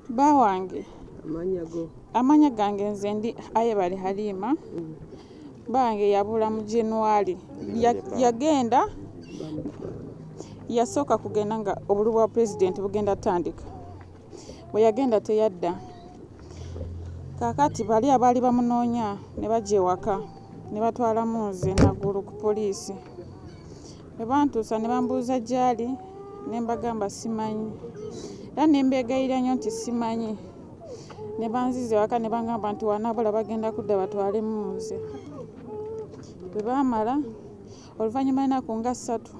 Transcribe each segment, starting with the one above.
bawange amanya gange nze ndi aye bali halima mm. bange yabula mu january yagenda yasooka kugenda nga obulu bwa pulezidenti bugenda tandika bwe yagenda teyadda kakati bali abaali bamunoonya ne bajja ewaka ne batwalamu nze nagulu ku poliisi bwe bantuusa ne bambuuza gy'ali ne mbagamba simanyi era ne mbeegayira nnyo nti simanyi ne banziza ewaka ne bangamba nti wanabula bagenda kudda batwalemu nze bwe baamala oluvannyuma enaku nga ssatu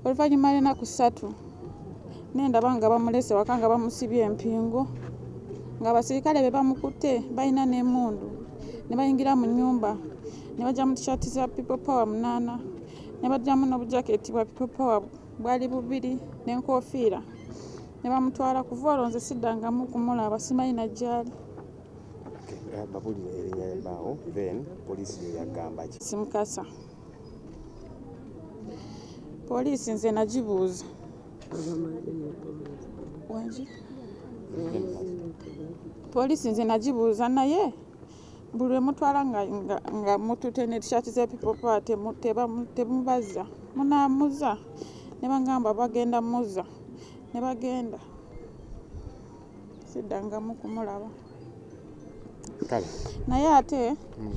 oluvannyuma lwenaku ssatu nendaba nga bamulese waka nga bamusibye empingu nga abasirikale be bamukutte balina n'emundu ne bayingira mu nyumba ne bajja mu tishati za people power munaana ne bajjamu n'obujaketi bwa people power bwali bubiri n'enkofiira ne bamutwala kuva olwo nze siddangamu kumulaba simanyi najjaali simukasa poliisi nze nagibuuza poliisi nze nagibuuza naye buli lwemutwala nga mutute ne tishati za people power temubaza munamuza nebagamba bagenda muza nebagenda siddangamu kumulaba naye ate mm.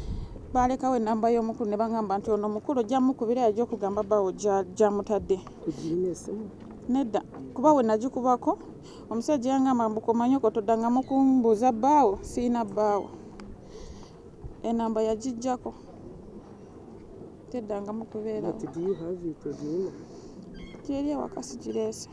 balekawo enamba y'omukulu ne bagamba nti ono omukulu ojja mukubira yajja okugamba bawo gyamutadde nedda kuba we nagikubako omusajja yangamba mbukomanyoko toddangamu kumbuuza bbaawo siina bbaawo enamba yagijjako teddangamu kubeera gyeri ewaka sigireese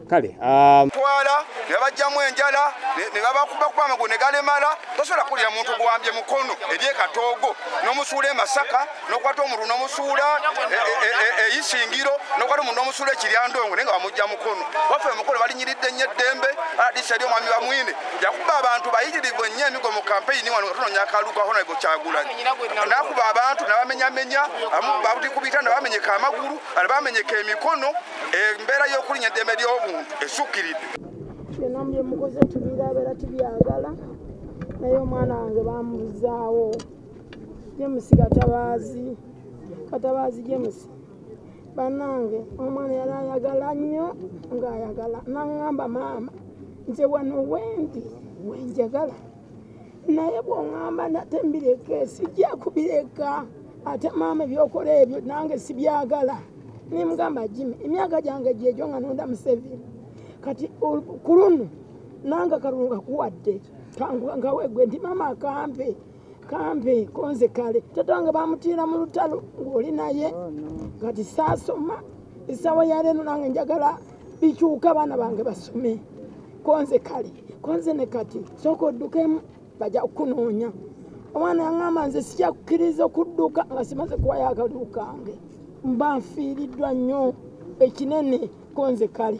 kale um, twala ne babajjamu enjala ne babakubakuba amagulu ne galemala tosobola kuwulira muntu gwambye mukono eri ekatoogo n'omusuula emasaka n'okwata omuntu n'omusuula eyisingiro e, e, e, n'okwata omuntu n'omusuula ekiryandongo naye nga bamujja mukono waffe mukono balinyiridde nnyo eddembe aladisa eri omwami bamwine yakuba abantu bayitirivu ennyo emigo mu kampeyini wano nga tunoonya akalulu ka honarebo kyagulanyi nakuba abantu nabamenyamenya amu babuti ku bitanda bamenyeka amagulu ala bamenyeka emikono embeera y'okulinya eddembe ly'obuntu esukkiridde byonna mu byemukoze tubirabeera tubyagala naye omwana wange bamubuzaawo jemusi katabaazi katabaazi jemusi banange omwana yali ayagala nnyo ng'ayagala naŋŋamba maama nze wano wendi wenjagala naye bw'oŋŋamba nate mbireke sijja kubireka ate maama ebyokola ebyo nange sibyagala nemugamba jimi emyaka gyange gyegyo nga nonda museveni kati ku luno nanga kalunga kuwadde kankuwa nkawe gwe nti maama akampe kampe konze kale tata wange bamutiira mu lutalo ng'oli naye oh, kati saasoma esawa yaleeno nange njagala bikyuka abaana bange basome konze kale konze ne kati sooka oddukemu baja kukunoonya omwana yaŋamba nze sija kukkiriza okudduka nga simaze kuwayo akaliwo kange mba nfiiriddwa nnyo ekinene konze kale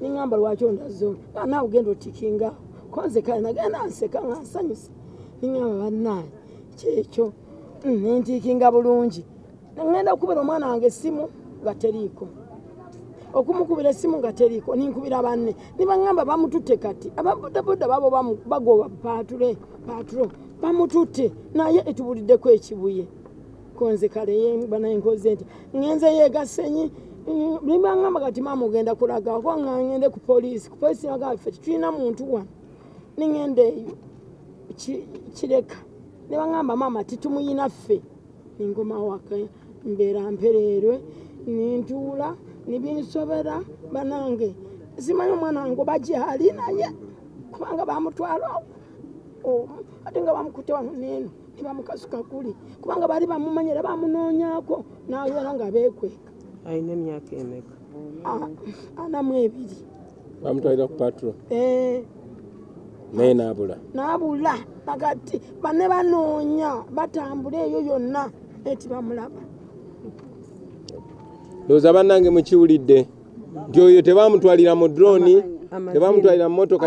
ningamba lwaki ondazo naawe ugenda otikinga konze kale nagenda nseka nga nsanyusa ningamba bannaaye kyekyo mm, nentiikinga bulungi ngenda okukubira omwana wange essimu nga teriiko okumukubira essimu nga teriiko ninkubira banne nibagamba bamututte kati ababodaboda babo bagoba pature paturo bamututte naye etubuliddeko ekibuye konze kale bana enkoze nti ngenze yegasenyi limba ngamba kati mama ogenda kulaga kuba nga ngende ku poliisi ku poliisi naga ffe tetulina muntu wano ningenda eyo kireka ne bangamba maama titumuyina ffe ningomawaka mbeera mpereerwe nintuula nibinsobera banange simanyi omwana wange oba gyali naye kubanga bamutwala omu ate nga bamukute wano neeno kiba mukazi kakuli kubanga bali bamumanya era bamunoonyako n'abeera nga beekweka alina emyaka emeka ah, anamu ebiri bamutwalira ku patro eh. naye naabula naabula nagati bane banoonya batambula eyo yonna eti bamulaba ndowooza bannange mukiwulidde nti oyo tebamutwalira mu droni tebamutwalira mu motoka